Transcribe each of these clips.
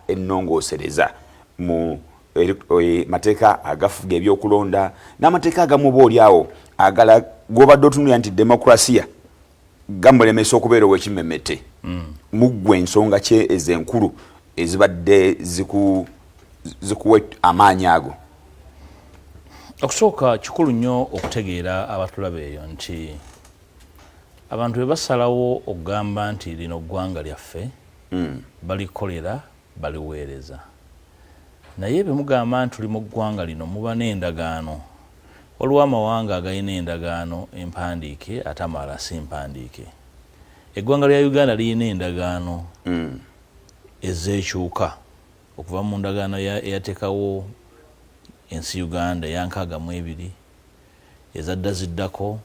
ennongoosereza mu e, mateeka agafuga ebyokulonda n'amateeka agamu oba olyawo agala gwobadde otunulira nti demokrasiya gamulemesa okubeera owekimemete mm. muggwe ensonga kye ezo enkulu ezibadde zikuwa amaanyi ago okusooka kikulu nnyo okutegeera abatulaba eyo nti abantu bebasalawo okugamba nti lino ggwanga lyaffe balikolera baliweereza naye bwe mugamba nti tuli mu ggwanga lino muba n'endagaano. Waliwo amawanga agalina endagaano empandiike ate amalala si mpandiike. Eggwanga lya Uganda lirina endagaano ezeekyuka okuva mu ndagaano eyateekawo ensi Uganda eya nkaaga mu ebiri, ezadda ziddako,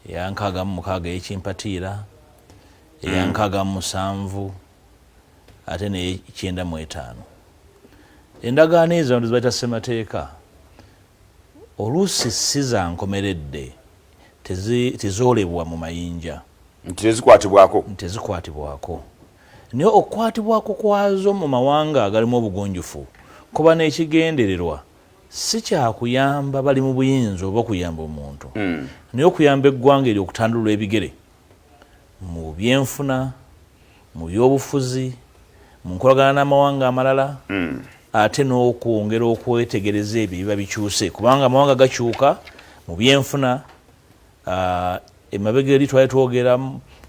eya nkaaga mu mukaaga ey'ekimpatiira, eyankaaga mu musanvu ate neyekyenda mu etaano endagaano ezo abantu zibayita ssemateeka oluusi si za nkomeredde tezoolebwa mu mayinja nti tezikwatibwako nti tezikwatibwako naye okukwatibwako kwazo mu mawanga agalimu obugunjufu kuba n'ekigendererwa si kyakuyamba bali mu buyinza oba okuyamba omuntu hmm. naye okuyamba eggwanga eri okutandulula ebigere mu byenfuna, mu byobufuzi, mu nkolagana n'amawanga amalala mm. ate n'okwongera okwetegereza ebyo ebiba bikyuse kubanga amawanga gakyuka mu byenfuna uh, emabega eri twali twogera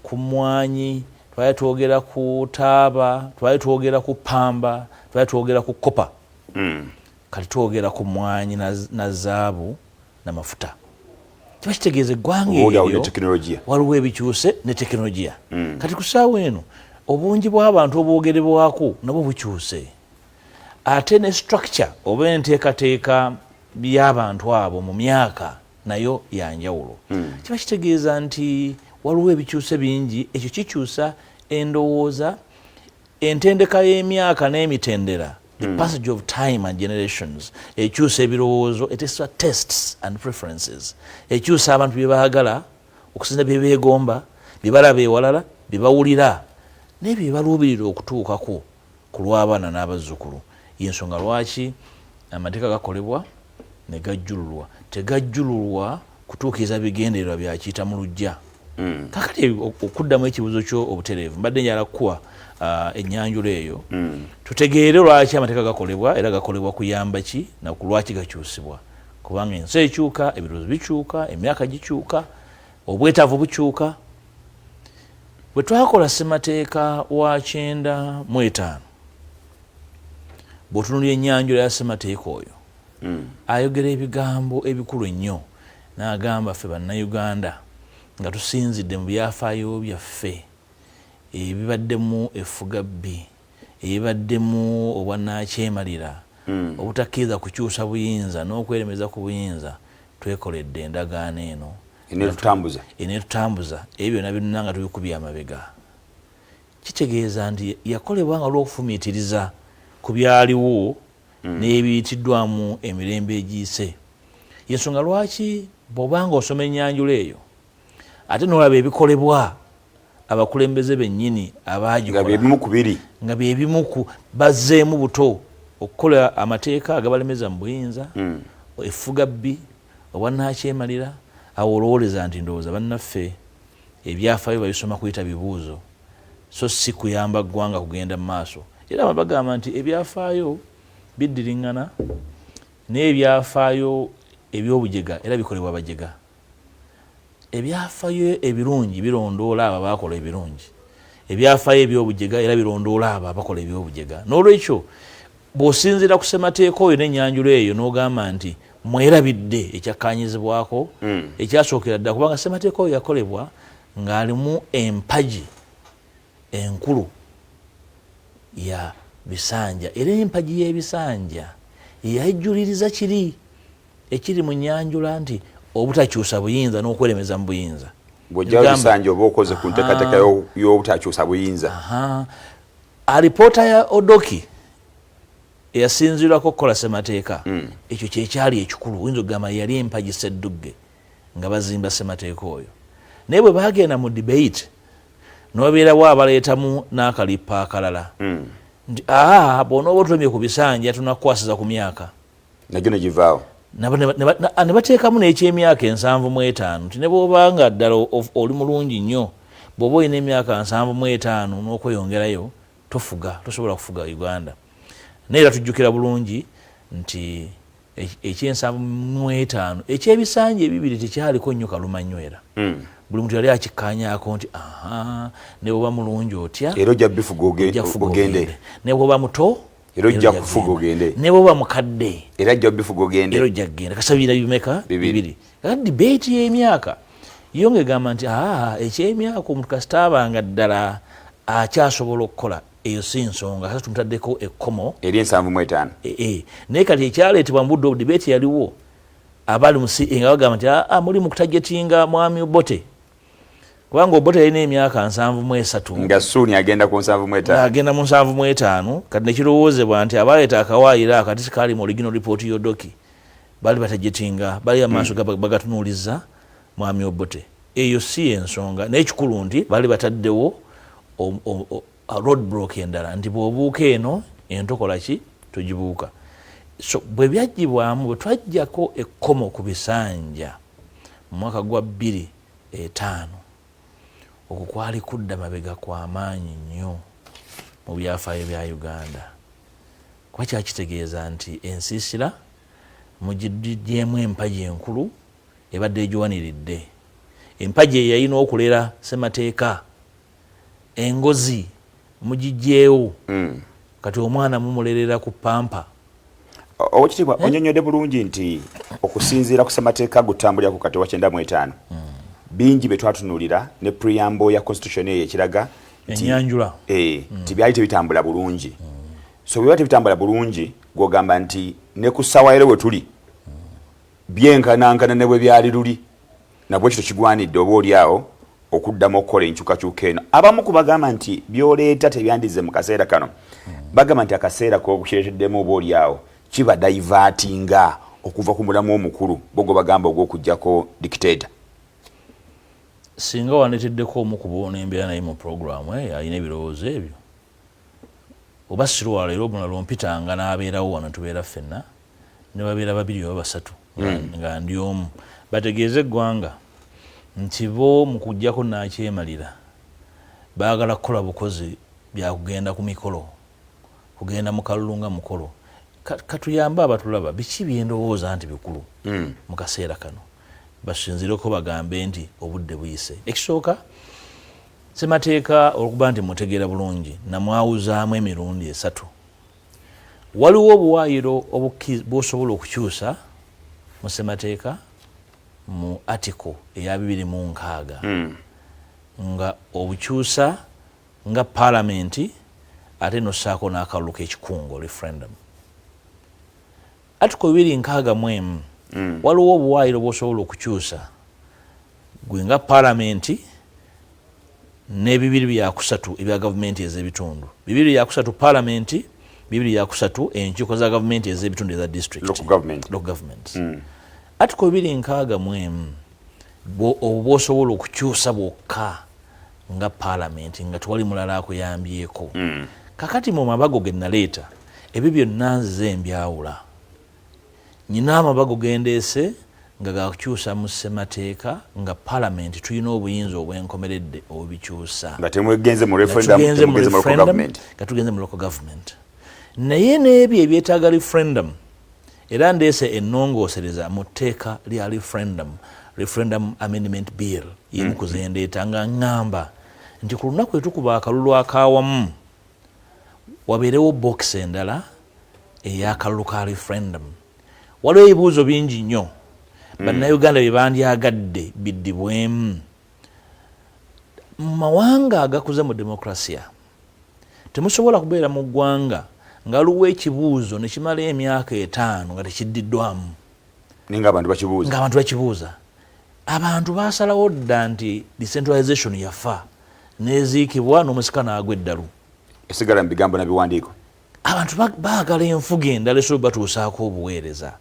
ku mwanyi twali twogera ku taaba twali twogera ku pamba twali twogera ku kopa mm. kati twogera ku mwanyi na zaabu namafuta kiba kitegeeza eggwanga eryo waliwo ebikyuse ne tekinologiya hmm. kati kusaawa eno obungi bw'abantu obwogerebwako nabwo bukyuse ate ne structure oba enteekateeka by'abantu abo mu myaka nayo yanjawulo hmm. kiba kitegeeza nti waliwo ebikyuse bingi ekyo kikyusa endowooza Entendeka y'emyaka n'emitendera the mm. passage of time and generations ekyusa ebirowoozo etesa tests and preferences ekyusa abantu bye baagala okusinza bye beegomba bye balaba ewalala bye bawulira naye bye baluubirira okutuukako ku lw'abaana n'abazzukulu y'ensonga lwaki amateeka gakolebwa ne gajjululwa tegajjululwa kutuukiriza bigendererwa byakiyita mu lujja mm. kakati okuddamu ekibuuzo kyo obutereevu mbadde njala kukuwa uh, ennyanjula eyo mm. tutegeere lwaki amateeka gakolebwa era gakolebwa kuyamba ki naku lwaki gakyusibwa kubanga ensi ekyuka ebirowoozo bikyuka emyaka gikyuka obwetaavu bukyuka bwe twakola ssemateeka wa kyenda mu etaano bwotunulira enyanjula ya semateeka oyo mm. ayogera ebigambo ebikulu ennyo n'agamba ffe bannayuganda nga tusinzidde mu byafaayo byaffe ebibaddemu effuga bbi ebibaddemu obwanaakyemalira mm. obutakkiriza kukyusa buyinza n'okweremeza ku buyinza twekoledde endagaano eno enetutambuza ebyo byona byonna nga tubikubya amabega Kitegeeza nti yakolebwa nga lw'okufumiitiriza ku byaliwo n'ebiyitiddwamu emirembe egiyise. Y'ensonga lwaki bw'oba nga osoma ennyanjula eyo ate n'olaba ebikolebwa abakulembeze bennyini abaagikola nga bye bimu ku bazzeemu buto okukola amateeka agabalemeza mu buyinza, effugabbi, obwannakyemalira, awo olowooleza nti ndowooza bannaffe. Ebyafaayo babisoma kuyita bibuuzo so si kuyamba ggwanga kugenda mu maaso era bano bagamba nti ebyafaayo biddiringana naye ebyafaayo ebyobujega era bikolebwa bajega ebyafayo ebirungi birondoola abo abakola ebirungi ebyafayo ebyobujega era birondoola abo abakola ebyobujega n'olwekyo Bw'osinziira ku ssemateeka oyo n'ennyanjula eyo n'ogamba nti mwerabidde ekyakkaanyizibwako hmm. ekyasookera ddala kubanga ssemateeka oyo yakolebwa ng'alimu empagi enkulu ya bisanja era empagi y'ebisanja yeyajjuliriza kiri ekiri mu nnyanjula nti obutakyusa buyinza n'okweremeza mu buyinza bwojja bisanja oba okoze ku nteekateeka y'obutakyusa buyinza alipoota ya odoki eyasinzirwako okukola semateeka hmm. ekyo kyekyali ekikulu oyinza okugamba yali empagi seddugge nga bazimba semateeka oyo naye bwe bagenda mu debate nobeerawo abaleetamu n'akalippa akalala hmm. nti aa bwonooba otulemye ku bisanja tunakukwasiza ku myaka nagyo negivaawo ne bateekamu n'ekyemyaka ensanvu mu etaano nti ne bwoba nga ddala oli mulungi nnyo bwoba olina emyaka nsanvu mu etaano n'okweyongerayo tofuga tosobola kufuga uganda naye era tujjukira bulungi nti e, ekyensanvu mu etaano ekyebisanja ebibiri tekyaliko nnyo kaluma nnyo era hmm. buli muntu yali akikkaanyako nti aha ne bwoba mulungi otya era ojja bifuga ogendere ne bwoba muto era ojja kufuga ogende ne bwoba mukadde era ajja bifuga ogende era ojja kugenda kasabira bimeka bibiri era debate y'emyaka yo ng'egamba nti aa eky'emyaka omuntu kasita abanga ddala akyasobola okukola eyo si nsonga kasa tumutaddeko ekkomo eri ensanvu mu etaano e, e. naye kati ekyaleetebwa mu budde obudibeeti yaliwo abali musi nga bagamba nti aa muli mu kutajetinga mwami obote kubanga obote yalina emyaka nsanvu mu esatu nga suuni agenda ku nsanvu mu etaano agenda mu nsanvu mu etaano kati nekirowoozebwa nti abaleeta akawaayiro akati sikaali mu original report yodoki bali batajetinga bali amaaso hmm. bagatunuuliza mwami obote eyo si ensonga naye ekikulu nti bali bataddewo road block endala nti bwobuuka eno entokola ki togibuuka so bwe byajjibwamu bwe twajjako ekkomo ku bisanja mu mwaka gwa bbiri etaano okwo kwali kudda mabega kwamaanyi nnyo mu byafaayo bya uganda kuba kyakitegeeza nti ensiisira mugidyemu empagi enkulu ebadde egiwaniridde empagi eyeyalina okulera semateeka engozi mugijjeewo kati omwana mumulerera ku pampa. Owekitiibwa eh? onyonyode bulungi nti okusinziira ku ssemateeka gutambulira ku kati wa kyenda mu etaano hmm. bingi bye twatunulira ne preamble ya constitution eyo ekiraga enyanjula eh, hmm. nti byali tebitambula bulungi hmm. so bwebiba tebitambula bulungi gwogamba nti ne ku ssaawa yero we tuli byenkanankana ne bwe byali luli Nabwekityo kigwanidde oba oli awo okuddamu okukola enkyukakyuka eno. Abamu ku bagamba nti byoleeta tebyandize mu kaseera kano hmm. bagamba nti akaseera kokukireteddemu oba oli awo kiba daivatinga okuva ku mulamu omukulu bogwe bagamba ogw'okugyako dikiteeta. Singa wandeteddeko omu ku boona embeera naye mu pulogulaamu eyo alina ebirowoozo ebyo. oba sirwala era omulala ompitanga n'abeerawo wano tubeera ffenna ne babeera babiri oba basatu hmm. nga ndi omu bategeeze eggwanga nti bo mu kujjako n'akyemalira baagala kukola bukozi bya kugenda ku mikolo kugenda mu kalulu nga mukolo katuyambe abatulaba biki byendowooza nti bikulu hmm. mu kaseera kano basinzireko bagambe nti obudde buyise ekisooka Ssemateeka olwokuba nti mmutegeera bulungi namwawuzaamu emirundi esatu. Waliwo obuwaayiro bw'osobola okukyusa mu ssemateeka mu article eya bibiri mu nkaaga hmm. nga obukyusa nga paalamenti ate n'ossaako n'akalulu k'ekikungo referendum. Article bibiri nkaaga mu emu mm. waliwo obuwaayiro bwosobola okukyusa gwe nga palamenti nebibiri byakusatu ebya gavumenti ezebitundu bibiri byakusatu palamenti bibiri byakusatu enkiiko za gavumenti ezebitundu eza district mm. article bibiri nkaaga mu emu obwosobola okukyusa bwokka nga palamenti nga tewali mulala akuyambyeko mm. kakati mu mabago ge naleeta ebyo byonna nzize mbyawula nyina amabago gendeese nga gakukyusa mu ssemateeka nga palamenti tulina obuyinza obwenkomeredde obubikyusa nga tugenze mu referendum nga tugenze mu local government naye n'ebyo ebyetaaga referendum Era ndeese ennongoosereza mu tteeka lya referendum, referendum amendment bill yemu ku zendeeta nga ŋŋamba nti ku lunaku etukuba akalulu ak'awamu wabeerewo bookisi endala ey'akalulu ka referendum. Waliwo ebibuuzo bingi nnyo hmm. bannayuganda bye bandyagadde biddibwemu mu mawanga agakuze mu demokrasiya. Temusobola kubeera mu ggwanga nga waliwo ekibuuzo ne kimala emyaka etaano nga tekiddiddwamu nga abantu bakibuuza. Abantu baasalawo dda nti decentralization yafa n'eziikibwa n'omusika n'agwa eddalu. Esigala mu bigambo na biwandiiko. abantu baagala enfuga endala esobola batuusaako obuweereza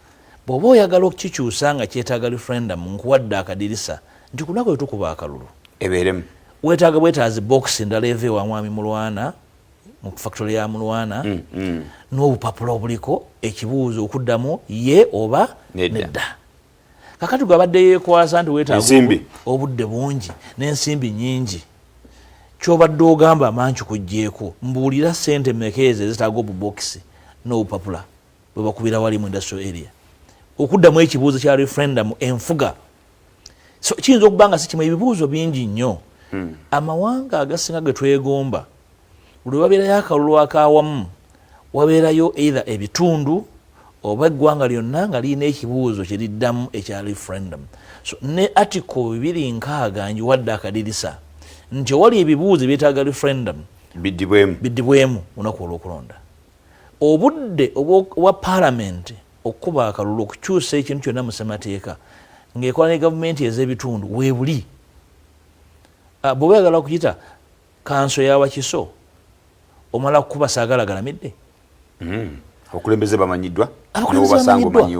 bw'oba oyagala okukikyusa nga kyetaaga referendum nkuwadde akadirisa nti ku lunaku lwe tukuba akalulu ebeeremu weetaaga bwetaazi bokisi endala eva ewa mwami mulwana mu fakitole ya mulwana mm, mm. n'obupapula obuliko ekibuuzo okuddamu ye oba nedda kakati gwe abadde yekwasa nti wetaaga obudde bungi n'ensimbi nyingi kyobadde ogamba amanki kujjeeko mbuulira sente meka ezo ezitaaga obubokisi n'obupapula bwe bakubira wali mu industrial area okuddamu ekibuuzo kya referendum enfuga so kiyinza okuba nga sikimu ebibuuzo bingi nnyo hmm. amawanga agasinga ge twegomba lwe wabeerayo akalulu ak'awamu wabeerayo either ebitundu oba eggwanga lyonna nga lirina ekibuuzo kye liddamu ekya referendum so ne article bibiri nkaaga njiwadde akadirisa nti owali ebibuuzo ebyetaaga referendum biddibwemu lunaku olw'okulonda obudde obwa palamenti okukuba akalulu okukyusa ekintu kyonna mu ssemateeka ng'ekola ne gavumenti ez'ebitundu weebuli ah, bwe weyagala okuyita Kanso ya Wakiso omala kukuba saagala galamidde. Mm. Abakulembeze bamanyiddwa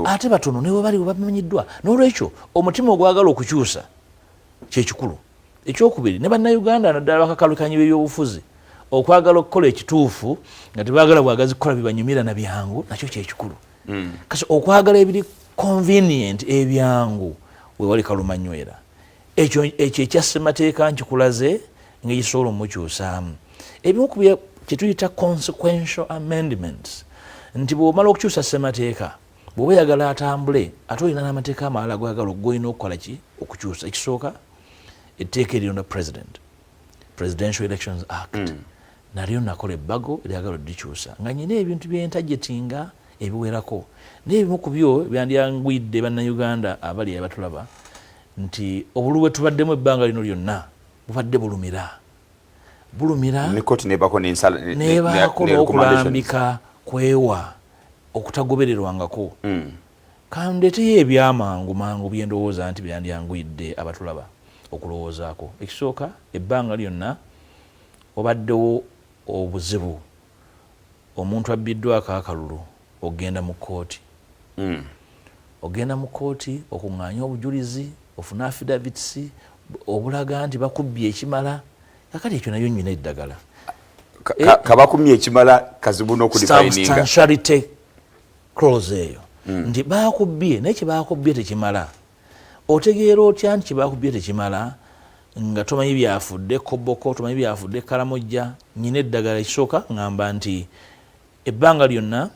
ate batono ne bwe bali bamanyiddwa. N'olwekyo omutima ogwagala okukyusa kye kikulu. Ekyokubiri ne Bannayuganda naddala bakakalukanyi b'ebyobufuzi okwagala okukola ekituufu nga tebaagala bwagazi kukola bibanyumira na byangu nakyo kye kikulu. Mm. Kasi okwagala ebiri convenient ebyangu we wali kalumanywera. ekyo ekyo ekya ssemateeka nkikulaze ngaekisobola omukyusaamu ebimu ku kyetuyita consequential amendments nti bwomala okukyusa ssemateeka bwoba oyagala atambule ate olina n'amateeka amalala gwagala ogolina okukola ki okukyusa ekisooka etteeka erironda president presidential elections act mm. nalyo nakola ebbago lyagala odikyusa nga nyina ebintu byentajetinga ebiwerako naye ebimu ku byo byandyangwidde bannayuganda abali abatulaba nti obululu bwetubaddemu ebbanga lino lyonna bubadde bulumira bulumira nebaako n'okulambika kwewa okutagobererwangako mm. kandeteyo ebyamangu mangu byendowooza nti byandyanguyidde abatulaba okulowoozaako ekisooka ebbanga lyonna wabaddewo obuzibu omuntu abbiddwako akalulu Ogenda mu kkooti. Ogenda mu kkooti okung'aanye obujulizi, ofune affidavits obulaga nti bakubbye ekimala. Kakati ekyo nabyo nnyina eddagala. Kabakumye ekimala kazibu n'okudifayininga. Substantiality clause eyo hmm. nti baakubbye naye kye baakubbye tekimala. Otegeera otya nti kye baakubbye tekimala nga tomanyi byafudde koboko, tomanyi byafudde kalamojja, nnyina eddagala ekisooka ng'amba nti Ebbanga lyonna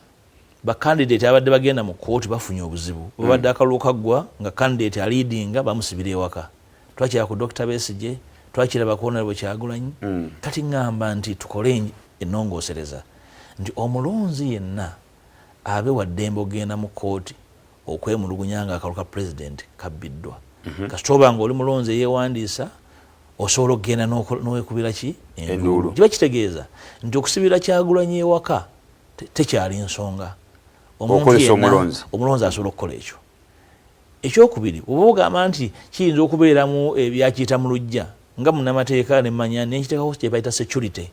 ba candidate ababadde bagenda mu kkooti bafunye obuzibu. Webabadde mm. akalulu kaggwa nga candidate aliidinga bamusibira ewaka. Twakira ku Dokita Besigye, twakira bakonera bwe Kyagulanyi. Mm. Kati ngamba nti tukole ennongoosereza nti omulonzi yenna abe wa ddembe okugenda mu kkooti okwemulugunya nga akalulu ka president kabbiddwa mhm. kasita oba nga oli mulonzi eyewandiisa osobola okugenda nowekubira ki enduulu kiba kitegeeza nti okusibira kyagulanyi ewaka tekyali nsonga omuntu yenna omulonzi asobola okukola ekyo ekyokubiri oba ogamba nti kiyinza okubeeramu ebyakiyita mu lujja nga munamateeka nemanya nenkiteekako kyebayita security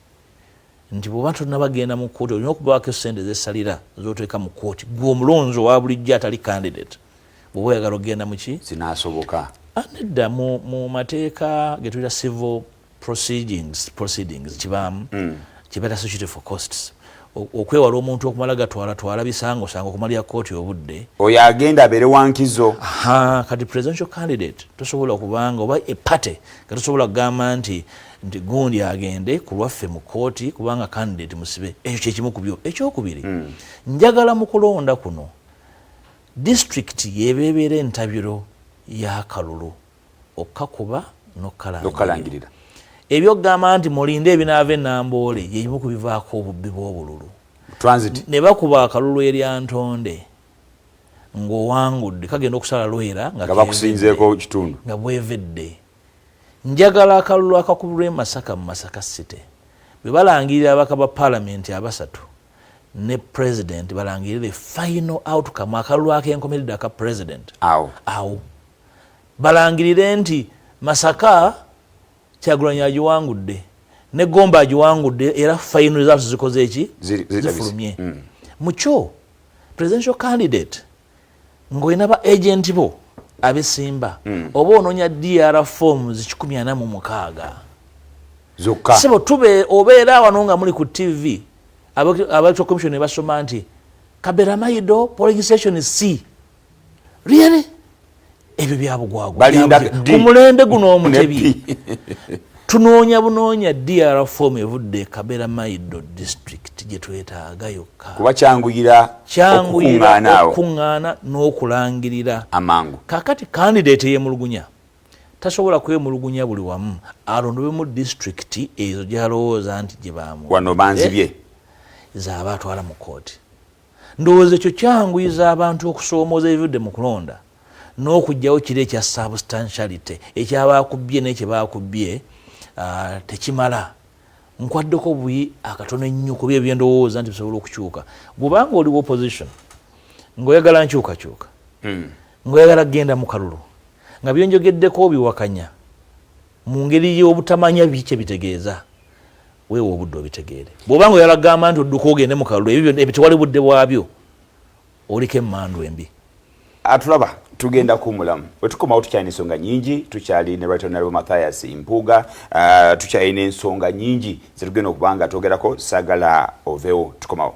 nti bwoba tonabagenda mu kooti olina okubaako esente zesalira zoteeka mu kooti gwe omulonzi owa bulijjo atali candidate bwoba oyagala okugenda muki zinasoboka ah, nedda mu mateeka getuyita civil proceedings proceedings kibaamu mm. kibeera security for costs okwewala omuntu okumala gatwala twala bisango sango okumalira kooti obudde oyo agenda abeere wankizo kati presidential candidate tosobola kubanga oba epate nga tosobola kugamba nti nti gundi agende ku lwaffe mu kkooti kubanga candidate musibe ekyo kyekimu ku byo ekyokubiri hmm. njagala mu kulonda kuno disitulikiti yebeebeera entabiro y'akalulu okukakuba nokukalangirira ebyokugamba nti mulinde ebinaava enamboole yebimu ku bivaako obubbi bw'obululu ne bakuba akalulu erya ntonde ng'owangudde kagenda okusala lwera nga bakusinzeeko kitundu nga bwevedde Njagala akalulu akakubirwa e Masaka mu Masaka City bwe balangirira ababaka ba Palamenti abasatu ne Pulezidenti balangirire the final outcome akalulu ak'enkomeredde aka Pulezidenti awo awo balangirire nti Masaka Kyagulanyi agiwangudde ne Gomba agiwangudde era final results zikoze eki zifulumye mm. mukyo presidential candidate ng'olina ba agenti bo abesimba hmm. oba ononya dr forms kikumi ana mu mukaaga zokka sebo tube obeera wano nga muli ku tv abalectoral commission ne basoma nti kaberamaido polling station c really ebyo byabugwagwakumulembe guno omutebi tunoonya bunoonya dr form evudde ekabera maido district gyetwetaaga yokka kuba kyanguyira kyanguyira okukuŋŋaana n'okulangirira amangu kakati kandidate eyemulugunya tasobola kwemulugunya buli wamu alondobemu disitulikiti ezo gyalowooza nti gyebamu wano banzibye eh? zaaba atwala mu kooti Ndowooza ekyo kyanguyiza abantu okusoomooza ebivudde mu kulonda n'okuggyawo kiri ekya substantiality ekyabaakubbye naye kye baakubbye ah, tekimala nkwaddeko buyi akatono ennyo kuba ebyo byendowooza nti bisobola okukyuka gwobanga oli wa opposition ngaoyagala nkyukakyuka hmm. ngaoyagala kugenda mu kalulu nga byonjogeddeko obiwakanya mu ngeri y'obutamanya bikye bitegeeza Weewa obudde obitegeere. Bw'oba nga oyala kugamba nti odduka ogende mu kalulu, ebyo byonna tewali budde bwabyo, oliko emmandu embi. Atulaba tugenda kumulamu wetukomawo tukyalina ensonga nyingi tukyali ne right honorable Mathias Mpuuga uh, tukyalina ensonga nyingi zetugenda okubanga twogerako sagala ovewo tukomawo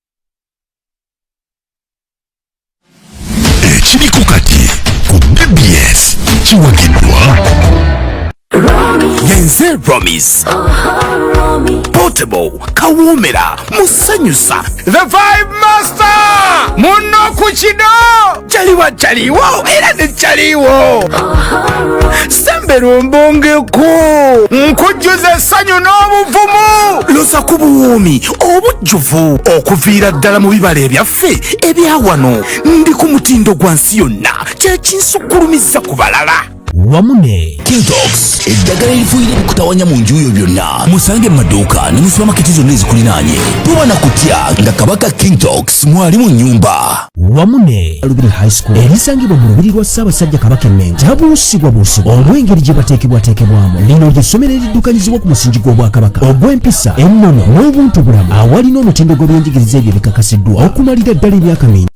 ekiriko kati ku bbs kiwagiddwa yenze romis portable kawoomera musanyusa the vibe master muno ku kido caliwa caliwo era ne caliwo sembera ombongeko nkujjuza essanyu n'obuvumu loza ku buwuumi obujjuvu okuviira ddala mu bibala ebyaffe ebyawano ndi ku mutindo gwa nsi yonna kyekinsukkulumizza ku balala wamu ne kintox eddagala erifuyira ebikutawanya mu nju yo byonna musange mu maduuka ne mu supamaketi zonna ezikulinaanye tuba na kutya nga kabaka kintox mwali mu nnyumba wamu ne alubiri high school erisangibwa mu lubiri lwa ssaabasajja kabaka emmengo tabuusibwabuusibwa olw'engeri gye bateekebwateekebwamu lino ly'essomero eriddukanyizibwa ku musingi gw'obwakabaka ogw'empisa ennono n'obuntubulamu awalina omutindo gw'ebyenjigiriza ebyo bikakasiddwa okumalira ddala emyaka mingi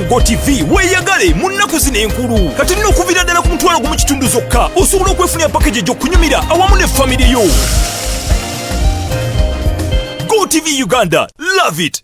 go tv weeyagale mu nnaku zino enkulu kati nno okuviira ddala ku mutwalo gumu kitundu zokka osobola okwefunira pakeji egy'okunyumira awamu ne famire yo go tv uganda love it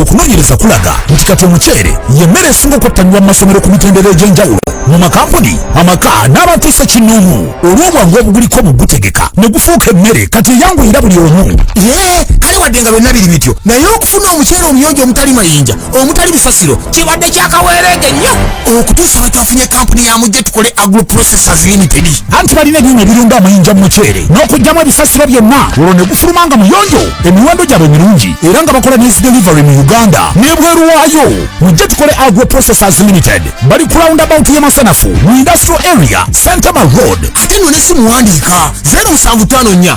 okunoonyereza kulaga nti kati omuceere yemmere esinga okwettanirwa mu masomero ku mitendera egy'enjawulo mu makampuni amaka n'abantu ssekinnoomu olw'obwangu obuguliko mu gutegeka ne gufuuka emmere kati eyanguyira buli omu ye kale wadde nga byonna biri bityo naye okufuna omuceere omuyonjo omutali mayinja omutali busasiro kibadde kyakaweereege nnyo okutuusa lwe twafunye kampuni ya mujje tukole agro processors limited anti balina ebyuma ebirunga amayinja mu muceere n'okugyamu ebisasiro byonna olwo ne gufuluma nga muyonjo emiwendo gyabwe mirungi era nga bakola nezi delivery mu uganda n'ebweru waayo mujje tukole agro processors limited bali ku roundabout ye masanafu mu industrial area santama road ate nno ne simuwandiika 0754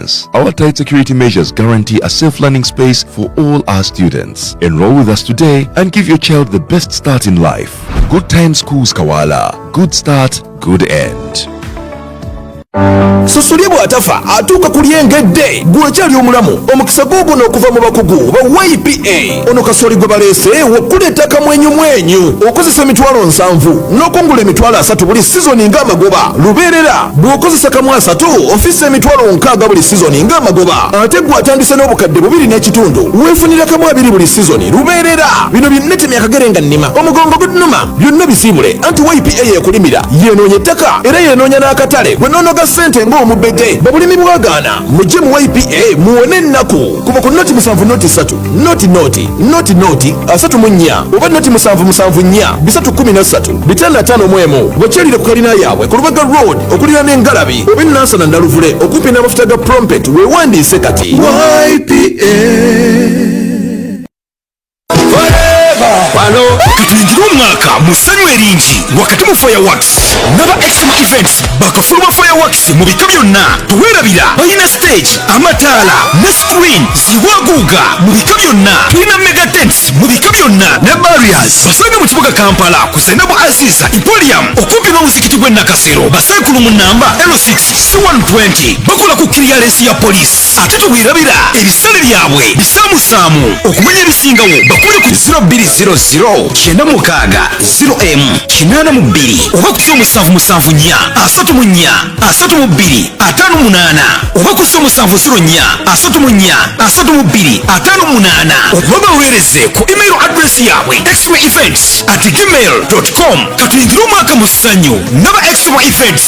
experience. Our tight security measures guarantee a safe learning space for all our students. Enroll with us today and give your child the best start in life. Good Time Schools Kawala. Good start, good end. susuli bw'atafa atuuka ku lyengedde gwekyali omulamu omukisa guuguno okuva mu bakugu ba ypa ono kasooli gwe baleese wakuleeta kamwenyumwenyu okozesa emitwalo nsanvu n'okungula emitwalo asatu buli sizoni ng'amagoba lubeerera bw'okozesa kamu asatu ofiisa emitwalo nkaaga buli sizoni ng'amagoba ate gwe atandise n'obukadde bubiri n'ekitundu weefunira kamu abiri buli sizoni lubeerera bino byonna temyakagere nga nnima omugongo gudnuma byonna bisiibule anti ypa yekulimira yenoonya ettaka era yenoonya n'akatale gwe noonoga ssente ng'omubege babulimi bwagaana mujje mu ypa muwone ennaku kuva ku noti musanvu noti satu noti noti noti noti asatu mu nnya oba noti musanvu musanvu nnya bisatu kkumi na ssatu bitaano ataano mu emu bakyalire ku kalina yaabwe ku lubaga road okulira n'engalabi oba ennansana naluvule okumpi n'amafuta ga prompet weewandiise kati ypa wano tuyingire omwaka mu ssanyu eringi wakati mu fireworks naba extreme events bakafuluma fireworks mu bika byonna tewerabira balina stage amataala ne screen ziwaguuga mu bika byonna tulina mega tents mu bika byonna ne barriers basanga mu kibuga kampala ku zainabu aziza ipolium okumpi n'omuzikiti gw'e nakasero basankulu mu namba l6 c120 bakola ku kiriyalensi ya poliisi ate tebwerabira ebisale byabwe bisaamusaamu okumanya ebisingawo bakubire ku 0200 kyenda mukaaga 0 emu kinaana mu bbiri oba ku z'omusanvu musanvu nnya asatu mu nnya asatu mu bbiri ataano munaana oba ku z'omusanvu ziro nnya asatu mu nnya asatu mu bbiri ataano munaana oba baweereze ku email address yaabwe exmo events at gmail com katuyingire omwaka mu ssanyu naba exmo events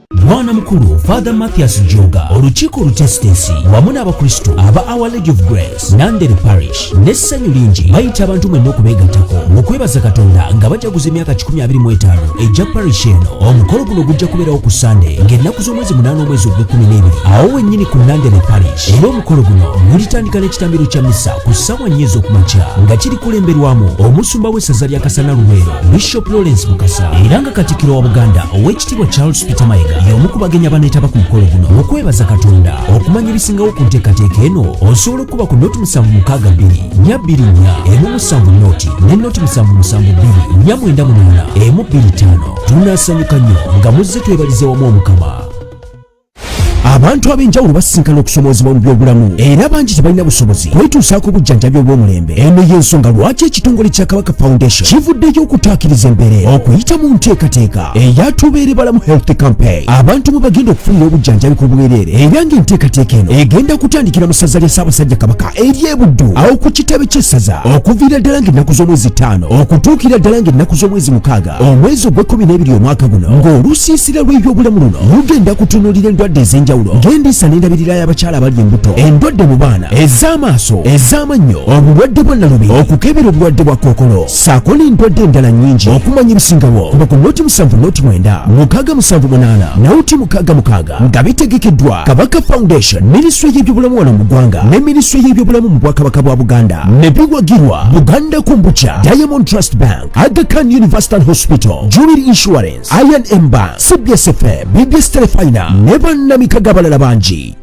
mwana mukulu father mathias joga olukiiko olutesitesi wamu n'abakristo aba our lady of grace nandere parish n'essanyu lingi bayita abantu mwenna okubeegattako mu kwebaza katonda nga bajaguza emyaka 25 egya parish eno omukolo guno gujja kubeerawo ku sande ng'ennaku z'omwezi munaana omwezi ogw'ekkumi n'ebiri awo wennyini ku nandere parish era omukolo guno gulitandika n'ekitambiro kya misa ku ssaawa nnya ez'okumakya nga kiri kulemberwamu omusumba w'essaza lya kasana luweero bishop lawrence mukasa era nga katikiro wa buganda Kitibwa Charles Peter Mayiga y'omu ku bagenyi abaneetaba ku mukolo guno okwebaza Katonda okumanya ebisingawo ku nteekateeka eno osobola okuba ku noti musanvu mukaaga bbiri nya bbiri nya emu musanvu noti ne noti musanvu musanvu bbiri nya mwenda munaana emu bbiri ttaano tunasanyuka nnyo nga muzze twebalize wamu omukama abantu ab'enjawulo basisinkana okusomoozebwa mu byobulamu era bangi tebalina busobozi kwetuusaako obujjanjabi obw'omulembe eno y'ensonga lwaki ekitongole kya kabaka foundation kivuddeyo okutaakiriza embeere okuyita mu nteekateeka eya tubeere balamu health campaign abantu mwe bagenda okufunira obujjanjabi ku bwereere era ng'enteekateeka eno egenda kutandikira mu ssaza lya ssaabasajja kabaka ery'ebuddu awo ku kitebe ky'essaza okuviira ddala ng'ennaku z'omwezi ttaano okutuukira ddala ng'ennaku z'omwezi mukaaga omwezi ogw'ekkumi n'ebiri omwaka guno ng'olusiisira lw'ebyobulamu luno lugenda kutunuulira endwadde ez'enjawulo ng'endiisa n'endabirira y'abakyala abali embuto endwadde mu baana ez'amaaso ez'amannyo obulwadde bwa nalubi okukebera obulwadde bwa kookolo saako n'endwadde endala nnyingi okumanya ebisingawo kuba ku noti musanvu noti mwenda mukaaga musanvu munaana nawuti mukaaga mukaaga nga bitegekeddwa kabaka foundation minisitule y'ebyobulamu wano mu ggwanga ne minisitule y'ebyobulamu mu bwakabaka bwa buganda ne biwagirwa buganda kumbukya diamond trust bank Aga Khan University Hospital, Jubilee Insurance, Iron Ember, CBS FM, BBS Telefina, Never Namika Gabalala Banji.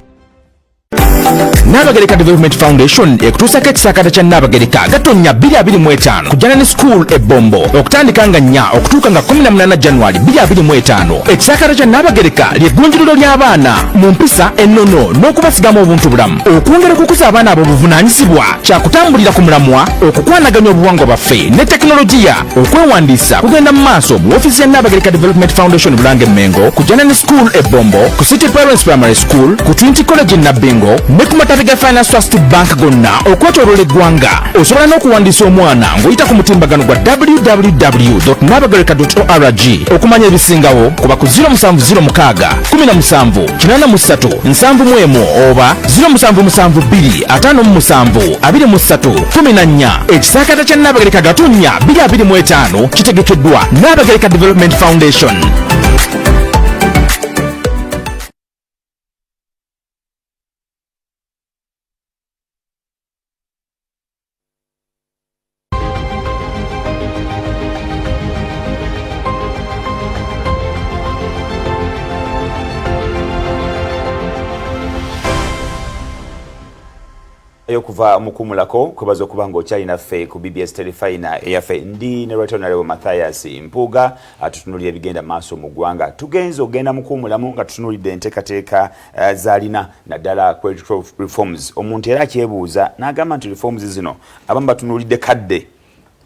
Nabagereka Development Foundation ekutuusako ekisakata kya Nabagereka Gatonnya 2025 kujana ne school e Bombo okutandika nga nnya okutuuka nga 18 January 2025. Ekisakata kya Nabagereka ly'eggunjuliro ly'abaana mu mpisa ennono n'okubasigamu obuntu bulamu okwongera okukuza abaana abo buvunaanyizibwa kyakutambulira ku mulamwa okukwanaganya obuwangwa bwaffe ne tekinologiya okwewandiisa kugenda mu maaso mu ofiisi ya naabagereka development foundation bulange mengo ku janani school ebombo ku city parents primary school ku trinity college nabbingo ne ku matabi ga finance trust bank gonna okwetoloola eggwanga osobola n'okuwandiisa omwana ng'oyita ku mutimbagano gwa www nabagereka org okumanya ebisingawo kuba ku 0706 17 kinana mu ssatu nsanvu mu emu oba ziro musanvu musanvu bbiri ataano mu musanvu abiri mu ssatu kumi na nnya ekisaakata kya nnaabagereka gatonnya biri abiri mu etaano kitegekeddwa nnaabagereka development foundation okuva mukumulako kwebaza okuba nga okyalina ffe ku bbs telefina eyaffe ndi ne retonarewo mathias mpuuga atutunulira ebigenda maaso mu ggwanga tugenze okugenda mukuumulamu nga tutunulidde enteekateeka Eh, zalina naddala credit reforms omuntu era akyebuuza n'agamba nti reforms zino abamu batunuulidde kadde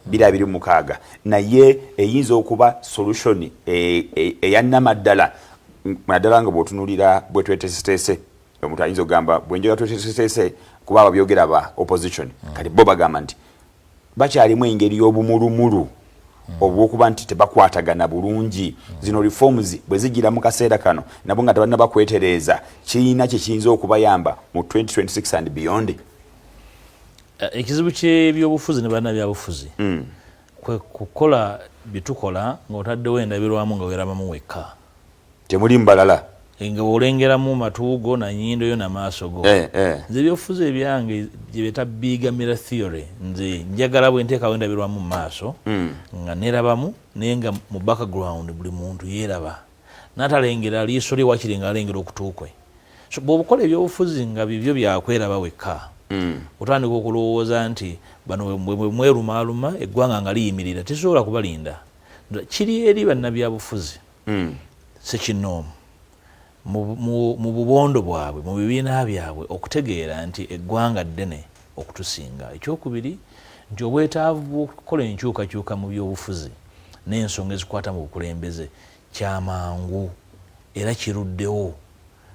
bira biri mukaaga naye eyinza okuba solution eh, eh, eyannamaddala naddala nga bwotunulira bwetwetesitese omuntu ayinza okugamba bwenjoga twetesitese kuba ababyogera ba opposition hmm. kati bo bagamba nti bakyalimu engeri y'obumulumulu obw'okuba nti tebakwatagana bulungi. Zino reforms bwe zijjira mu kaseera kano nabo nga tebannaba kwetereeza, kirina kye kiyinza okubayamba mu 2026 and beyond? Eh, ekizibu ky'ebyobufuzi ne bannabyabufuzi hmm. kwe kukola bye tukola ng'otaddewo endabirwamu nga weerabamu wekka. temuli mbalala nga olengeramu matu go na nyindo yo na maaso go eh, eh. nze ebyobufuzi ebyange gyebeta bigamira theory nze njagala bwe nteekawo endabirwamu mu maaso mm. nga nerabamu naye nga mu background buli muntu yeeraba natalengera liiso lye wakiri nga alengera okutuukwe so bwobukola ebyobufuzi nga bibyo byakweraba wekka mm. otandika okulowooza nti bano bwemwerumaaluma eggwanga nga liyimirira tesobola kubalinda kiri eri bannabyabufuzi mm. sekinoomu mu bubondo bwabwe mu bibiina byabwe okutegeera nti eggwanga ddene okutusinga ekyokubiri nti obwetaavu bwokukola enkyukakyuka mu byobufuzi n'ensonga ezikwata mu bukulembeze kyamangu era kiruddewo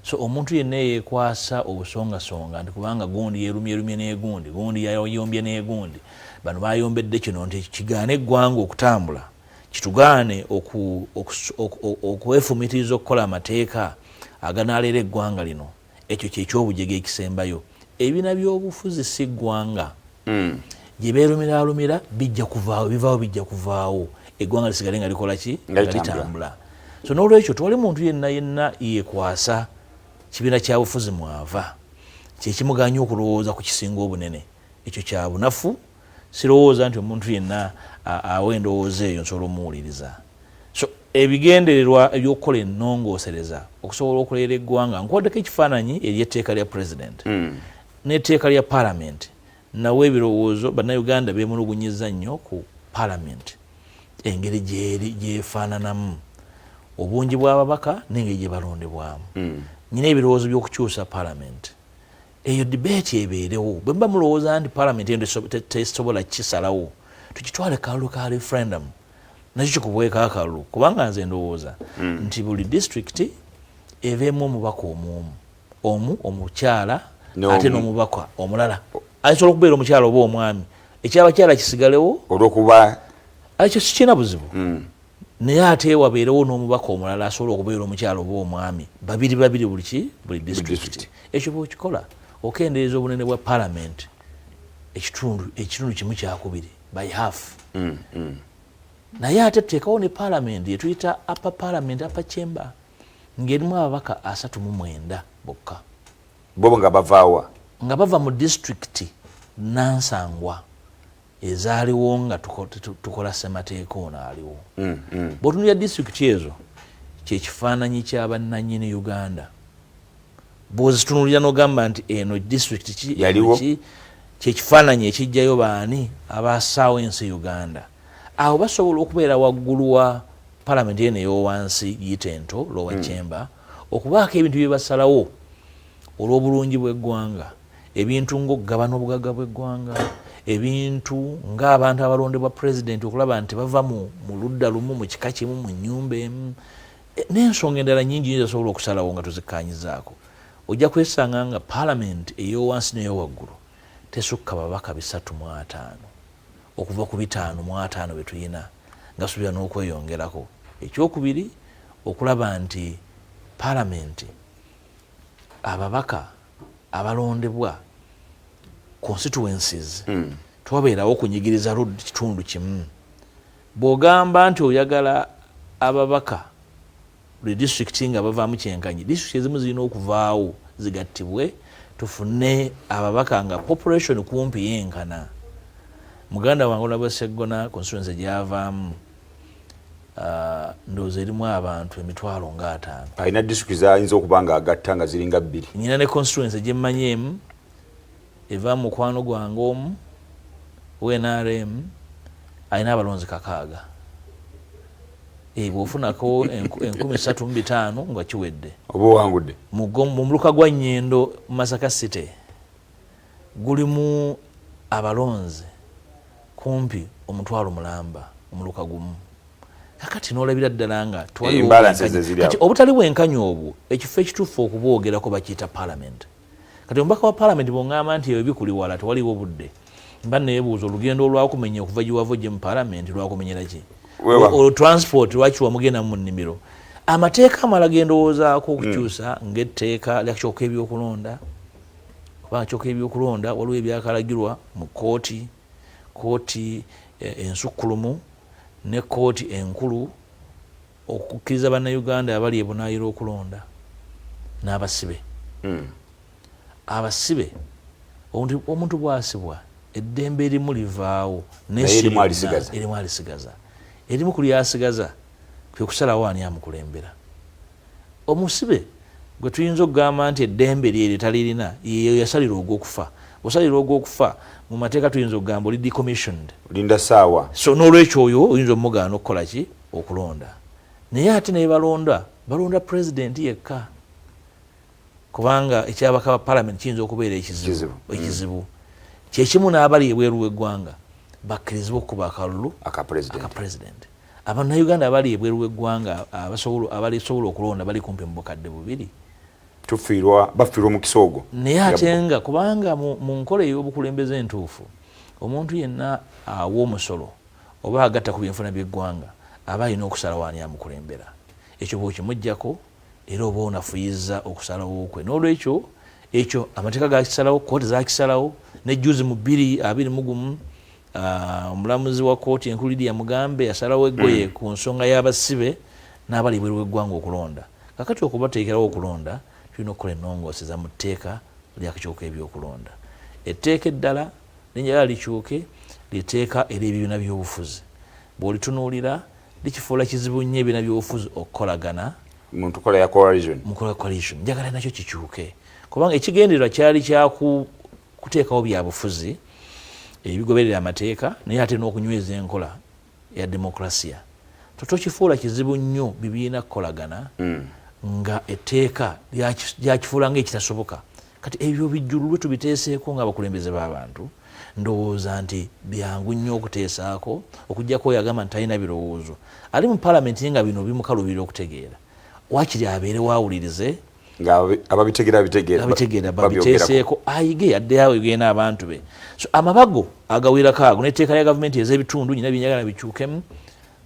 So omuntu yenna eyeekwasa obusongasonga nti kubanga gundi yeerumyerumye n'egundi, gundi yayombye n'egundi, bano baayombedde kino nti kigaane eggwanga okutambula, kitugaane okwefumitiriza okukola amateeka aganaalera eggwanga lino. Ekyo kye ky'obujega ekisembayo. Ebibiina by'obufuzi si ggwanga. mm. gye beerumiraalumira bijja kuvaawo bivaawo bijja kuvaawo eggwanga lisigale nga likola ki nga litambula so n'olwekyo tewali muntu yenna yenna yekwasa kibiina kya bufuzi mwava kyekimuganya okulowooza ku kisinga obunene ekyo kya bunafu sirowooza nti omuntu yenna awa endowooza eyo nsobola omuwuliriza so ebigendererwa ebyokukola enongosereza okusobola okuleera eggwanga nkuwaddeko ekifaananyi eri etteeka lya pulezidenti mm. N'etteeka lya Palamenti nawo ebirowoozo Bannayuganda beemulugunyizza nnyo ku Palamenti engeri gy'efaananamu, obungi bw'ababaka n'engeri gye balondebwamu. Nnina ebirowoozo by'okukyusa Palamenti. Eyo dibeeti ebeerewo. Bwe muba mulowooza nti Palamenti eno tesobola kukisalawo, tukitwale ku kalulu ka referendamu nakyo kikubweko akalulu kubanga nze ndowooza nti buli disitulikiti ebeemu omubaka omu omu. omu omukyala ate n'omubaka omulala asobola okubeera omukyala oba omwami ekyabakyala kisigalewo olwokuba ekyo sikirina buzibu hmm. naye ate wabeerewo n'omubaka omulala asobola okubeera omukyala oba omwami babiri babiri buli ki buli disitulikiti ekyo bwekikola okendeeza obunene bwa palamenti ekitundu ekitundu kimu kyakubiri by half hmm, hmm. naye ate tuteekawo ne palamenti etuyita apa palamenti apa chamber ng'erimu ababaka asatu mu mwenda bokka. Bo nga bava wa? Nga bava mu disitulikiti nnansangwa ezaaliwo nga tukola ssemateeka ono aliwo. Mm, mm. Bw'otunuulira disitulikiti ezo kye kifaananyi kya bannannyini Uganda. Bw'ozitunuulira n'ogamba nti eno disitulikiti ki kye kifaananyi ekijjayo baani abaasaawo ensi Uganda. awo basobola okubeera waggulu wa palamenti eno eyowansi giyita ento lowa hmm. chamber okubaako ebintu byebasalawo olw'obulungi bw'eggwanga ebintu ngaokugabana obugagga bw'eggwanga ebintu ng'abantu abalondebwa pulezidenti okulaba nti bava mu ludda lumu mu kika kimu mu nyumba emu e, n'ensonga endala nyingi nyo zasobola okusalawo nga tuzikkanyizaako ojja kwesanga nga palamenti eyowansi neyowaggulu tesukka babaka bisatu mu ataano okuva ku bitaano mu ataano bye tulina ngasubira n'okweyongerako ekyokubiri okulaba nti palamenti ababaka abalondebwa constituencies mm. twabeerawo okunyigiriza lud kitundu kimu bw'ogamba nti oyagala ababaka buli disitulikiti nga bavaamu kyenkanyi disitulikiti ezimu zirina okuvaawo zigattibwe tufune ababaka nga population kumpi yenkana muganda wange olaba seggona constituency gyavaamu ah, ndowooza erimu abantu emitwalo nga ataano alina disitulikiti zayinza okuba nga agatta nga ziringa bbiri nyina ne constituency gyemmanyi emu eva mu mukwano gwange omu owe nrm alina abalonzi kakaaga Eh, bwofunako enkumi satu mu bitaano nga kiwedde oba owangudde mu muluka gwa nyendo masaka city gulimu abalonzi kumpi omutwalo mulamba omuluka gumu kakati nolabira ddala nga eh, obutali bwenkanya obwo ekifo ekituufu okubwogerako bakiyita palamenti kati omubaka wa palamenti bwongamba nti ebyo bikuli wala tewaliwo budde mba nebuuza olugendo olwakumenya okuva giwava ojje mu palamenti lwakumenyera ki olwo transport lwaki wamugenda mu nnimiro amateeka amala gendowoozaako hmm. okukyusa mm. ngaetteeka lyakyoka ebyokulonda kubanga kyoka ebyokulonda waliwo ebyakalagirwa mu kooti kooti e, ensukkulumu ne kooti enkulu okukkiriza Bannayuganda abali ebunaayira okulonda n'abasibe. Abasibe, omuntu bw'asibwa eddembe erimu livaawo naye si lyonna, erimu alisigaza. Erimu ku ly'asigaza kwe kusalawo ani amukulembera. Omusibe gwe tuyinza okugamba nti eddembe lye eryo talirina ye yasalirwa ogw'okufa. Bw'osalirwa ogw'okufa mu mateeka tuyinza okugamba oli decommissioned. Linda ssaawa. So n'olwekyo oyo oyinza omugaana okukola ki? okulonda naye ate nebalonda balonda president yekka kubanga ekyabaka ba parliament kiyinza okubeera ekizibu ekizibu mm. kyekimu n'abali ebweru w'eggwanga bakkirizibwa okukuba akalulu aka president abanauganda abali ebweru w'eggwanga abalisobola okulonda bali kumpi mu bukadde bubiri tufiirwa bafiirwa omukisa ogwo naye ate nga kubanga mu nkola ey'obukulembeze entuufu omuntu yenna awa omusolo Oba agatta ku byenfuna by'eggwanga aba alina okusalawo ani amukulembera. Ekyo bw'okimuggyako era oba onafuyizza okusalawo kwe. N'olwekyo ekyo amateeka gaakisalawo, kkooti zaakisalawo, ne jjuuzi mu bbiri abiri mu gumu omulamuzi wa kkooti enkulu Lydia Mugambe yasalawo eggoye mm. ku nsonga y'abasibe n'abali ebweru w'eggwanga okulonda. Kakati okubateekerawo okulonda tulina okukola ennongooseza mu tteeka ly'akakiiko k'ebyokulonda. Etteeka eddala Erinnya lya Likyuke lye tteeka ery'ebibiina by'obufuzi. Bw'olitunuulira, likifuula kizibu nnyo ebibiina by'obufuzi okukolagana mu nkola ya coalition. Njagala nakyo kikyuke kubanga ekigendererwa kyali kya kuteekawo byabufuzi ebigoberera amateeka naye ate n'okunyweza enkola ya demokrasia tokifuula kizibu nnyo bibiina kukolagana mm. nga etteeka lyakifuula nga ekitasoboka kati ebyo bijjululwe tubiteeseeko ngaabakulembeze b'abantu ndowooza nti byangu nnyo okuteesaako okujjako oyo agamba nti talina birowoozo ali mu palamenti ye nga bino bimukalubira okutegeera wakiri abeere waawulirize nga ababitegera bitegera ababitegera babiteeseeko ayige yadde awo egenda abantu be so amabago agawerako ago neteeka lya gavumenti ezebitundu nyina byenyagala bikyukemu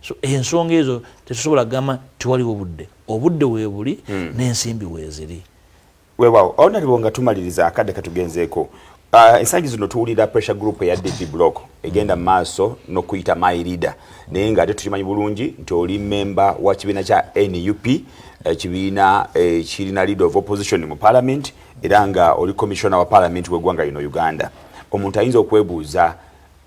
so ensonga ezo tetusobola kugamba tewaliwo budde obudde webuli hmm. n'ensimbi weziri wewawo awo naliwo nga tumaliriza akadde katugenzeeko Uh, ensangi zino tuwulira pressure group eya DP block egenda mu maaso n'okuyita my leader naye nga ate tukimanyi bulungi nti oli memba wa kibiina kya nup ekibiina eh, ekirina eh, leader of opposition mu parliament era nga oli commissioner wa parliament w'eggwanga lino uganda omuntu ayinza okwebuuza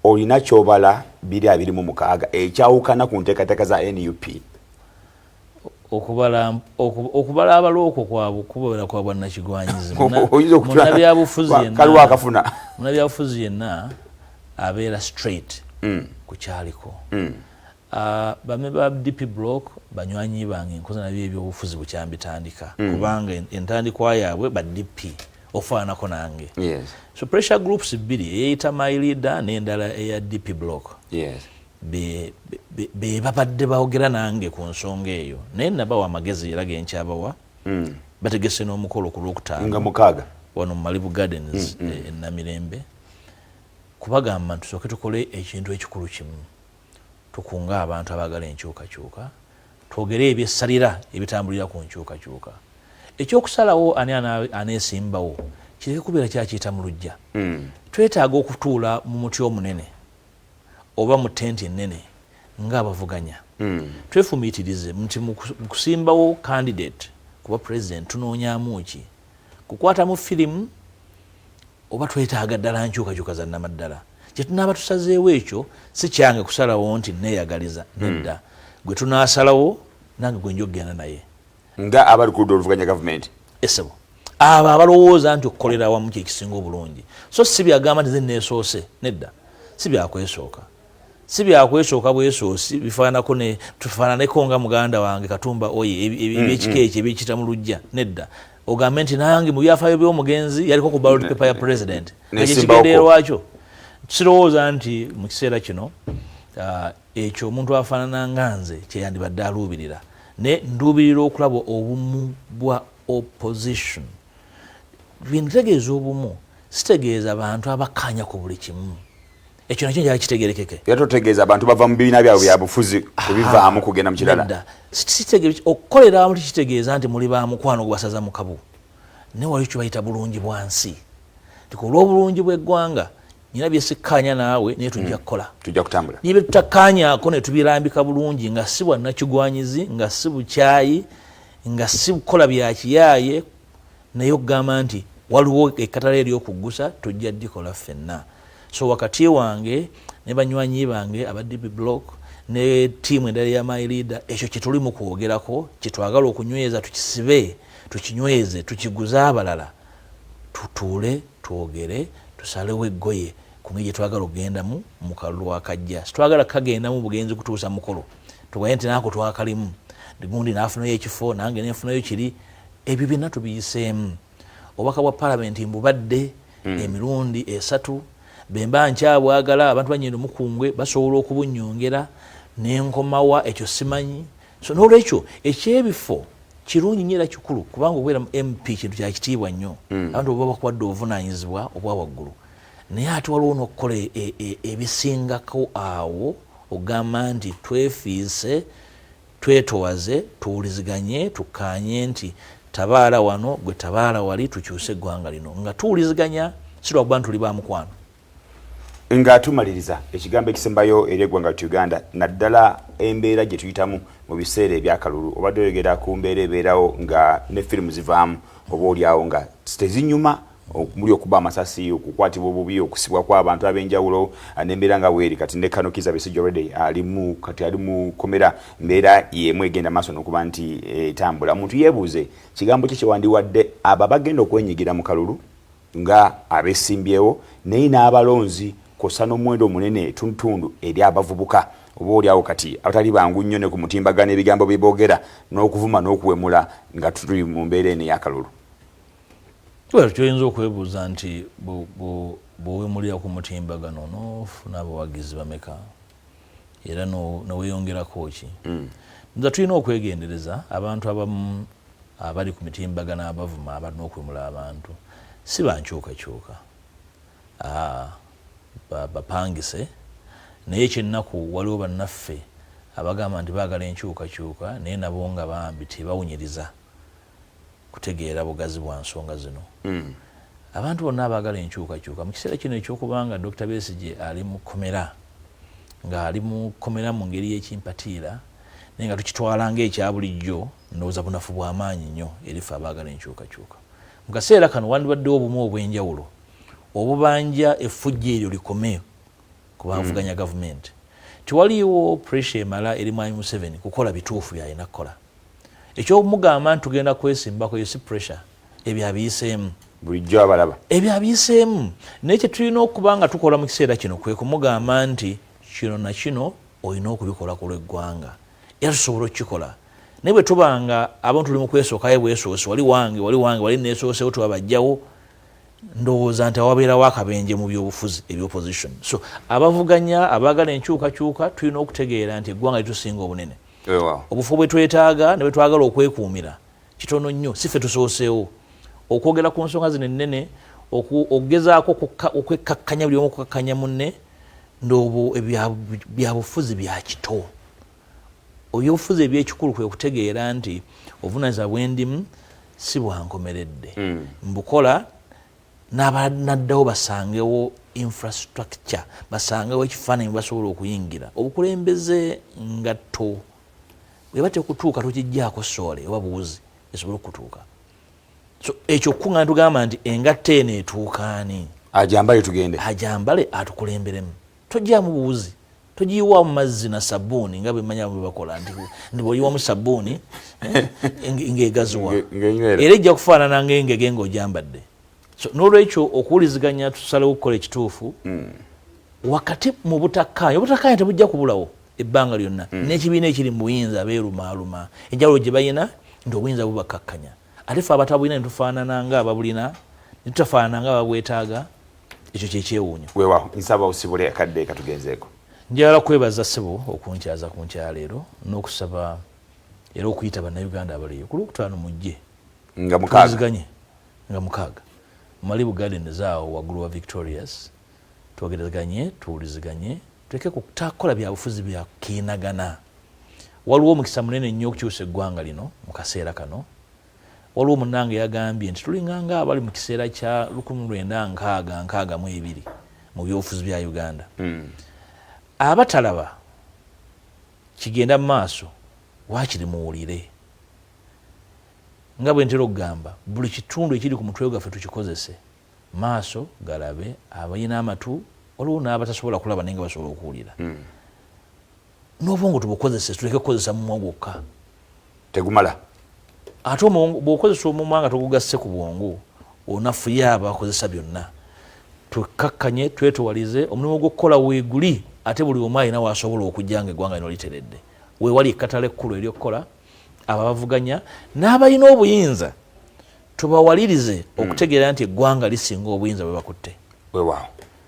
olina kyobala biri abiri mu mukaaga ekyawukana ku nteekateeka za nup okubala okubala abalo okwo kwabwe kubera kwa bwannakigwanyizi munabyabufuzi yenna abeera straight mm. ku kyaliko mm. ah, bame ba dp block banywanyi bange nkoze nabyo ebyobufuzi bukyambitandika mm. kubanga entandikwa yaabwe ba dp ofaanako nange so pressure groups bbiri eyeyita my leader n'endala eya dp block bebabadde baogera nange ku nsonga eyo naye nabawa amagezi era genkyabawa mm. bategese n'omukolo ku lwokutaanmukaaga wano mu malibu gardens mm, mm. Eh, enamirembe kubagamba nti tusooke tukole ekintu ekikulu kimu tukunga abantu abaagala enkyukakyuka twogere ebyesalira ebitambulira ku nkyukakyuka ekyokusalawo ani aneesimbawo kireke kubeera kyakiyita mu lujja twetaaga okutuula mu muti omunene oba mu tenti ennene ng'abavuganya twefumiitirize nti mu kusimbawo kandidate kuba pulezidenti tunoonyamu ki? Kukwatamu firimu oba twetaaga ddala nkyukakyuka za nnamaddala? Kye tunaaba tusazeewo ekyo si kyange kusalawo nti nneeyagaliza, nedda. Gwe tunaasalawo nange gwe nja okugenda naye. nga abali ku ludda oluvuganya gavumenti esebo abo abalowooza nti okukolera awamu kyekisinga obulungi so si byagamba nti zeneesoose nedda si byakwesooka si byakwesooka bwesoosi bifaananako ne tufaananeko nga muganda wange katumba oye ebyekika mm, mm. ekyo ebyekita mu lujja nedda ogambe nti nange mu byafaayo by'omugenzi yaliko ku ballot paper ya president ekyo kigendererwakyo sirowooza nti mu kiseera kino uh, Ekyo omuntu afaanana nga nze kye yandibadde aluubirira. Naye nduubirira okulaba obumu bwa opposition. Bwe ntegeeza obumu sitegeeza bantu abakkaanya ku buli kimu. Ekyo nakyo njala kitegerekeke. Era totegeeza abantu bava mu bibiina byabwe bya bufuzi kubivaamu kugenda mu kirala. Okukolera awamu tekitegeeza nti muli ba mukwano gubasaza mu kabu. Naye waliyo kye bayita bulungi bwa nsi. Nti ku lw'obulungi bw'eggwanga nina byesikkaanya naawe naye tujja mm. kukola tujja kutambula niye byetutakkaanyaako ne tubirambika bulungi nga si bwa nakigwanyizi nga si bukyayi nga si kukola byakiyaaye naye okugamba nti waliwo ekkatala eryokuggusa tujja dikola ffenna so wakati wange ne banywanyi bange aba db block ne tiimu endala ya my leader ekyo kyetuli mu kwogerako kyetwagala okunyweza tukisibe tukinyweze tukiguze abalala tutuule twogere tusalewo eggoye ku ngeri gye twagala okugendamu mu kalulu akajja. Sitwagala kukagendamu bugenzi kutuusa mukolo tugaye nti naako twakalimu gundi n'afunayo ekifo nange nenfunayo kiri. Ebyo byonna tubiyiseemu. Obubaka bwa palamenti mbubadde hmm. emirundi esatu bwe mba nkyabwagala abantu banyendo mukungwe basobola okubunnyongera ne nkomawa ekyo simanyi so nolwekyo ekyebifo kirungi nyo era kikulu kubanga okubeera mu mp kintu kyakitiibwa nnyo hmm. abantu oba bakuwadde obuvunanyizibwa obwa waggulu naye ate waliwo nokukola e, e, e, ebisingako awo ogamba nti twefiise twetowaze tuwuliziganye tukkaanye nti tabaala wano gwe tabaala wali tukyuse eggwanga lino nga tuwuliziganya sirwakuba nti tuli bamukwano nga tumaliriza ekigambo ekisembayo eri eggwanga lya uganda naddala embeera gye tuyitamu mu biseera ebyakalulu obadde oyogera ku mbeera ebeerawo nga ne firimu zivaamu oba olyawo nga tezinyuma muli okuba amasasi okukwatibwa obubi okusibwa kw'abantu ab'enjawulo ah, n'embeera nga bweri kati ne kano kiza besijja already alimu kati ali mu komera mbeera y'emu egenda maaso n'okuba nti etambula omuntu yeebuuze kigambo ki kyewandiwadde abo abagenda okwenyigira mu kalulu nga abesimbyewo naye n'abalonzi kwossa n'omuwendo omunene etundutundu eri abavubuka oba oli awo kati abatali bangu nnyo ne ku mutimbagano ebigambo bye boogera n'okuvuma n'okuwemula nga tuli mu mbeera eno ey'akalulu. Well, kyoyinza okwebuuza nti bw'owemulira ku mutimbagano n'ofuna abawagizi bameka? era neweyongerako ki mm. nza tulina okwegendereza abantu abamu abali ku mitimbagano abavuma abalina okwemula abantu si bankyukakyuka ah, bapangise naye kyennaku waliwo bannaffe abagamba nti baagala enkyukakyuka naye nabo nga bambi tebawunyiriza kutegeera bugazi bwa nsonga zino. Abantu bonna abaagala enkyukakyuka mu kiseera kino eky'okuba nga Dokita Besigye ali mu kkomera, ng'ali mu kkomera mu ngeri y'ekimpatiira naye nga tukitwala ng'ekya bulijjo, ndowooza bunafu bwa maanyi nnyo eri ffe abaagala enkyukakyuka. Mu kaseera kano wandibaddewo obumu obw'enjawulo obubanja effujjo eryo likome ku bavuganya gavumenti nti waliwo pressure emala eri Mwami Museveni kukola bituufu byalina kukola. Eky'okumugamba nti tugenda kwesimbako eyo si pressure, ebyo abiyiseemu. Bulijjo abalaba. Ebyo abiyiseemu. Naye kye tulina okuba nga tukola mu kiseera kino kwe kumugamba nti kino na kino olina okubikola ku lw'eggwanga era tusobola okukikola naye bwe tuba nga abantu tuli mu kwesookayo bwesoosi wali wange wali wange wali neesoosewo tuba bajjawo ndowooza nti awabeerawo akabenje mu byobufuzi ebya opposition so abavuganya abaagala enkyukakyuka tulina okutegeera nti eggwanga litusinga obunene obufo bwe twetaaga ne bwe twagala okwekuumira kitono nnyo si ffe tusooseewo okwogera ku nsonga zino ennene okugezaako okwekkakkanya buli omu okukkakkanya munne ndoobo byabufuzi bya kito Oyofuza ebyekikulu kwe kutegeera nti obunaza bwendimu si bwankomeredde mm. mbukola nabanaddawo basangewo infrastructure basangewo ekifaananyi basobola okuyingira obukulembeze ngatto bweba tekutuuka tukijjaako soole oba buwuzi esobole okutuuka so ekyo kukuŋŋana tugamba nti engatto eno etuukaani ajambale tugende ajambale atukulemberemu tojamu buwuzi togiyiwamu mazzi na sabuuni nga bwemanya bwebakola nti bwoyiwamu sabuuni eh, ngaegaziwa era ejja kufaanana ngaengege ngaojambadde nolwekyo okuwuliziganya tusalewo okukola ekituufu hmm. wakati mu butakkaanya obutakkaanya tebujja kubulawo ebbanga lyonna hmm. n'ekibiina ekiri mu buyinza beerumaaluma enjawulo gye balina nti obuyinza bubakkakkanya ate fe abatabulina netufaanana nga ababulina netutafaanana nga babwetaaga ekyo kyekyewuunyo wewaho nsaba osibule akadde katugenzeeko njagala kwebaza sebo okunkyaza ku nkyaleero n'okusaba era okuyita bannayuganda abaleyo ku lwokutaano mujje nga mukaaga nga mukaaga mali bugadeni zaawo waggulu wa victorious twogerezeganye tuwuliziganye tuleke kutakola byabufuzi byakiinagana waliwo omukisa munene nnyo okukyusa eggwanga lino mu kaseera kano Waliwo munnange yagambye nti tulinganga abali mu kiseera kya lukumi mu lwenda nkaaga nkaaga mu ebiri mu byobufuzi bya Uganda. Hmm. Abatalaba kigenda mu maaso waakiri muwulire. Nga bwe ntera okugamba, buli kitundu ekiri ku mutwe gwaffe tukikozese. Maaso galabe, abalina amatu, waliwo n'abatasobola kulaba naye nga basobola okuwulira. Hmm. n'obwongo tubukozese tuleke kukozesa mumwa gwokka tegumala ate bwokozesa omumwa nga tugugasse ku bwongo onafuye abo akozesa byonna twekkakkanye twetowalize omulimu gw'okukola weeguli ate buli omu alina waasobola okujja nga eggwanga lino literedde weewali ekkatala ekkulu ery'okukola abo abavuganya n'abalina obuyinza tubawalirize hmm. okutegeera nti eggwanga lisinga obuyinza bwe bakutte wewaawo